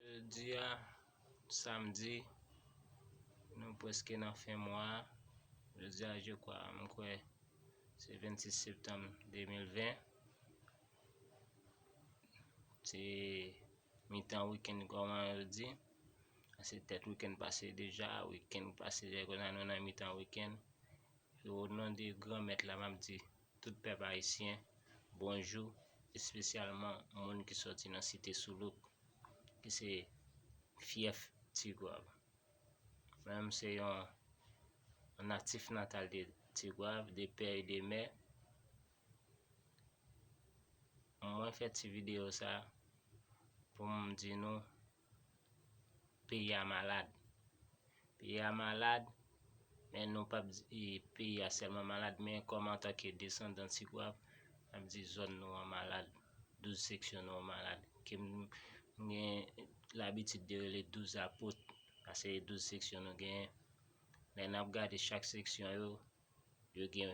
Jodi a samdi nou preske nan fen mwa a, jodi a je kwa m kwè se 26 septanm 2020 se mitan wikenn kòman yo di a se tèt wikenn pase deja, wikenn pase deja kounye a nou nan mitan wikenn e o non de gran mèt la m ap di Tout pèp Ayisyen, bonjou, espesyalman moun ki sòti nan Site Soulouk, ki se fyèf Tigwav. Mwen menm se yon natif natal de Tigwav, de pè e de mè. Mwen fè ti videyo sa pou m di nou Peyi a malad. Peyi a malad, men nou pap di peyi a sèlman malad, men kòm antanke desandan Tigwav, map di zòn nou an malad, 12 seksyon nou an malad, ke m gen labitid de rele 12 apot, paske 12 seksyon nou genyen. Lè nap gade chak seksyon yo, Yo gen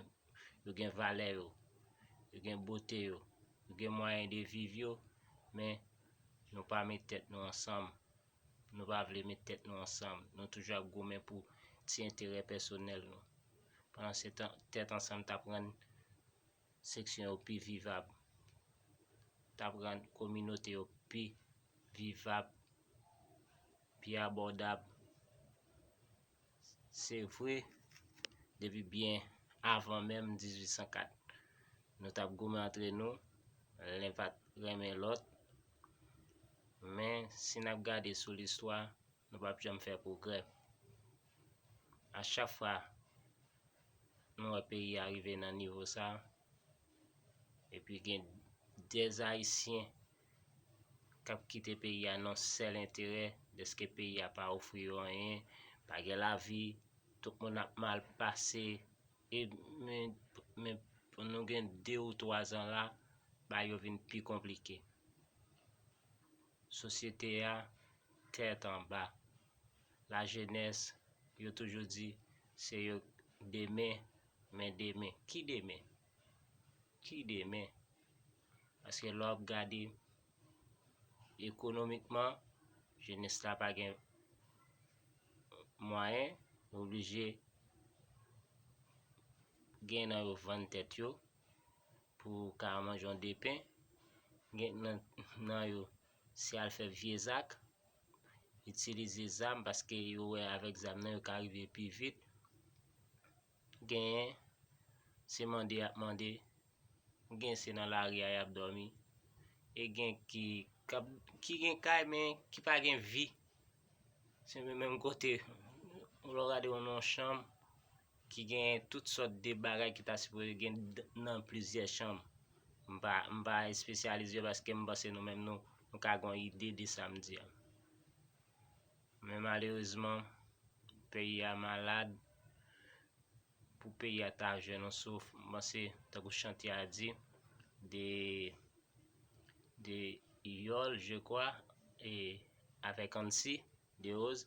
yo gen valè yo, yo gen bote yo, yo gen mwayen de viv yo men nou pa met tèt nou ansanm, nou pa vle met tèt nou ansanm, nou toujou ap goumen pou ti enterè pèsonèl nou. Pandan se tan tèt ansanm t ap rann seksyon yo pi vivab, t ap rann kominote yo pi vivab, pi abòdab. Se vre, depi byen avan menm 1804, nou t ap goumen antre nou, len pa t renmen lòt. Men, si n ap gade sou listwa, nou p ap janm fè pwogrè. A chak fwa nou wè peyi a rive nan nivo sa, Epi gen dè ayisyen kap kite peyi a nan sèl enterè dèske peyi a pa ofri yo anyen, pa gen lavi, tout moun ap mal pase e men nou gen 2 ou 3 zan la bagay yo vin pi konplike. Sosyete a tèt anba, lajenès yo toujou di se yo demen Men demen, ki demen? Ki demen? Paske lè w ap gade ekonomikman, jenès la pa gen mwayen, yo oblije gen nan yo vann tèt yo pou ka manje yon depen, gen nan yo se al fè vye zak. itilize zam paske yo wè avèk zam nan yo ka rive pi vit genyen se mande yap mande gen se nan lari a yap dòmi e gen ki kap ki gen kay men ki pa gen vi se menm kote ou lò gade yon non chanm ki gen tout sòt de bagay ki ta sipoze gen nan plizyè chanm. M pa m pa espesyalize paske m panse nou menm nou nou ka gen yon ide de sa m di a. Men malerezman peyi a malad pou peyi a ta jwenn yon souf m panse tankou chantye a di de de yòl je kwa e avèk ansi Derose,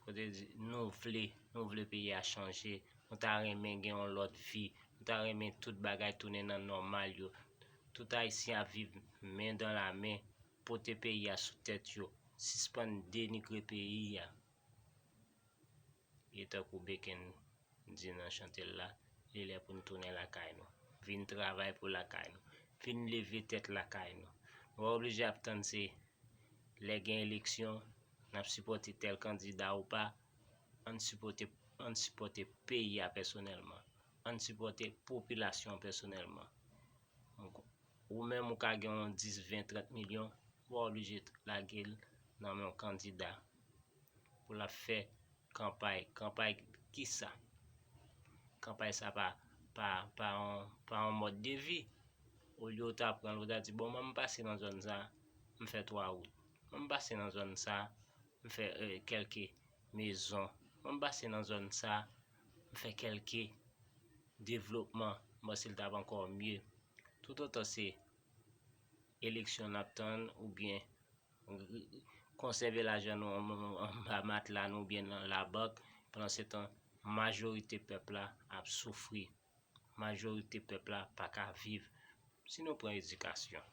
Kote di, nou vle, nou vle peyi a chanje, nou ta renmen gen yon lòt vi, nou ta renmen tout bagay tounen nan nòmal yo, tout Ayisyen ap viv men dan la men, pote peyi a sou tèt yo, sispann denigre peyi a. E tankou Beken di nan chante l la, li lè pou n tounen lakay nou. Vin travay pou lakay nou. Vin leve tèt lakay nou. Nou pa oblije ap tann se lè gen eleksyon n ap sipòte tèl kandida ou pa. An n sipòte, an n sipòte peyi a pèsonèlman. An n sipòte popilasyon an pèsonèlman. Ou menm ou ka gen yon 10, 20, 30 milyon, ou pa oblije lage l nan men yon kandida. pou l ap fè kanpay. Kanpay kisa? Kanpay sa pa pa yon mòd de vi. Olye ou ta pran l, ou ta di bon mwen m pase nan zòn sa, m fè 3 wout. Mwen m pase nan zòn sa, m fè kèlke mezon. Mwen m pase nan zòn sa, m fè kèlke devlopman. Bon si l ta pran kòmye. Toutotan se eleksyon n ap tann oubyen. Konsève lajan nou anba matla nou oubyen nan labank, pandansetan majorite pèp la ap soufri, majorite pèp la pa ka viv. Si nou pran edikasyon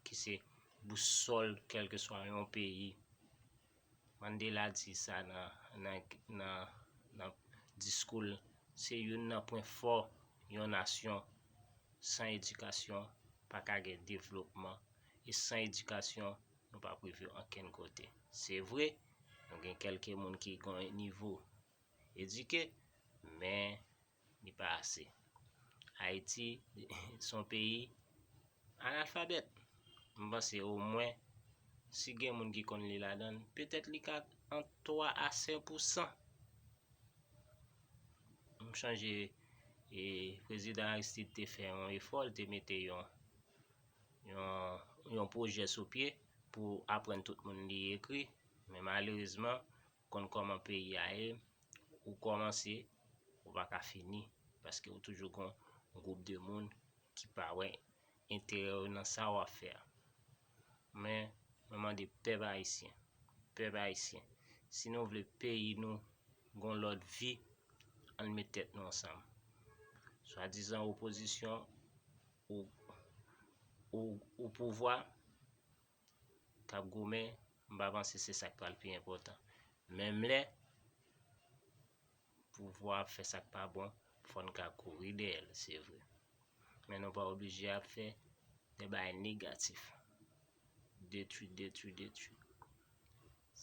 ki se bousòl kèlkeswa yon peyi, Mandela di sa nan diskou l, se youn nan pwen fò yon nasyon san edikasyon pa ka gen devlopman, e san edikasyon nou pap rive ankenn kote. Se vre, nou gen kelke moun ki gon yon nivo edike, men li pa ase. Ayiti son peyi analfabèt. M panse o mwen si gen moun ki konn li ladan l, petèt li ka ant 3 a 5 pou 100. M chanje e prezidan Aristide te fè yon efò, li te mete yon yon pwojè sou pye pou aprann tout moun li ekri men malerezman konn kòman peyi a ye ou kòmanse ou pa ka fini paske ou toujou gon gwoup de moun ki pa wè enterè yo nan sa wap fè a men mwen mande pèp ayisyen pèp ayisyen si nou vle peyi nou gon lòt vi ann met tèt nou ansanm swadizan opozisyon ou ou pouvwa kap goumen m pa panse se sak pral pi enpòtan menm lè pouvwa ap fè sak pa bon fò n ka kouri dèyè l se vre men nou pa oblije ap fè de bagay negatif detwi detwi detwi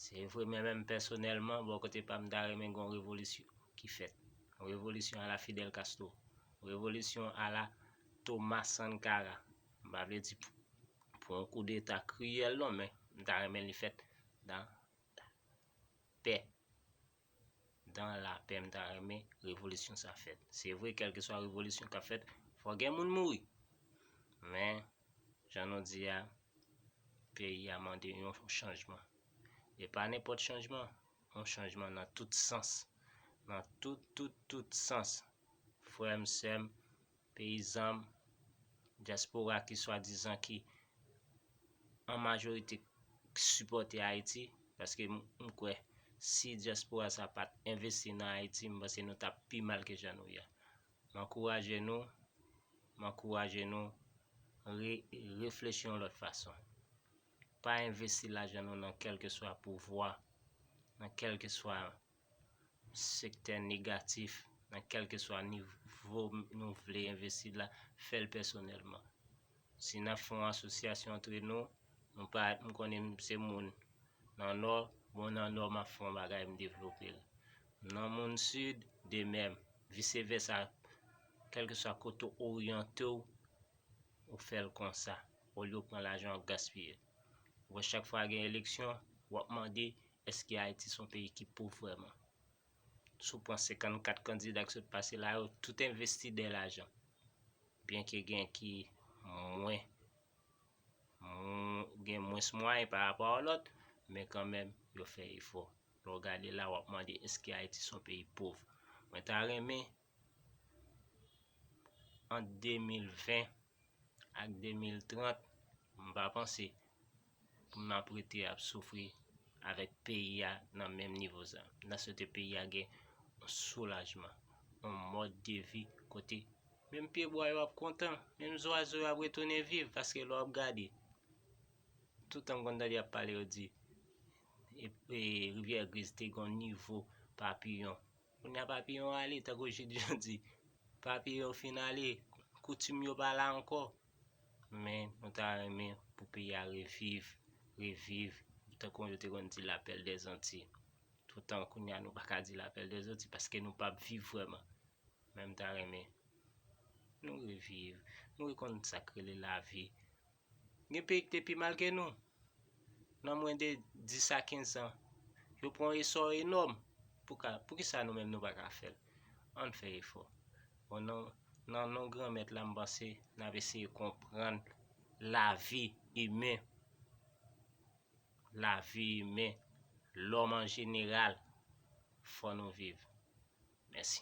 Se vre men menm pèsonèlman bò kote pam ta renmen gen yon revolisyon ki fèt. Yon revolisyon ala Fidel Castro. Yon revolisyon ala Thomas Sankara. M pa vle di pou yon kou deta kriyèl non men m ta renmen li fèt dan la pè. Dan lapè m ta renmen revolisyon sa fèt se vre kèlkeswa revolisyon kap fèt fò gen moun mouri men jan nou di a peyi a mande yon chanjman e pa nenpòt chanjman yon chanjman nan tout sans nan tout tout tout sans frè m sè m Peyizan m, dyaspora ki swadizan ki an majorite ki sipòte Ayiti, paske m kwè si dyaspora sa pat envesti nan Ayiti m panse nou tap pi mal ke jan nou ye a. M ankouraje nou, m ankouraje nou re reflechi yon lòt fason. Pa envesti lajan nou nan kèlkeswa pouvwa, nan kèlkeswa. sektè negatif nan kèlkeswa nivo nou vle envesti la, fè l pèsonèlman. Si n ap fè yon asosyasyon antre nou, nou pa m konnen m se moun nan Nò, bon nan Nò m ap fè yon bagay m devlope l. M nan moun Sid, de mèm, vise vèsa, kèlkeswa kote w oryante w, ou fè l konsa, olye w pran lajan w ap gaspiye l. Ou wè chak fwa gen eleksyon, wap mande eske Ayiti son peyi ki pov vrèman. Si w pran 54 kandida ki sot pase la yo, tout envesti dè lajan. Byen ke gen ki mwen, gen mwens mwayen pa rapò a lòt, men kan menm yo fè efò. Lè w gade la wap mande eske Ayiti son peyi pov. Mwen ta renmen ant 2020 ak 2030 m pa panse pou m ap rete ap soufri avèk peyi a nan menm nivo sa. M ta swete peyi a gen yon soulajman, yon mòd de vi kote menm pyebwa yo ap kontan, menm zwazo yo ap retounen viv paske lè w ap gade toutan m konn tande y ap pale yo di rivyè griz te gen yon nivo papiyon Kounya Papiyon ale, tankou Jid Jan di, Papiyon fin ale, koutim yo pa la ankò. Men nou ta renmen pou peyi a reviv, reviv, tankou yo te konn di la perle des Antilles. Toutan kounya nou pa ka di la perle des Antilles paske nou pap viv vrèman. Men m ta renmen nou reviv, nou rekonn sa k rele lavi. Gen peyi ki te pi mal ke nou. Nan mwen de 10 a 15 zan, yo pran yon esò enòm pou ka, pou ki sa nou menm nou pa ka fè l? Ann fè efò. O non, nan non Granmèt la m panse n ap eseye konprann lavi imen, lavi imen, lòm an jeneral, fò nou viv. Mèsi.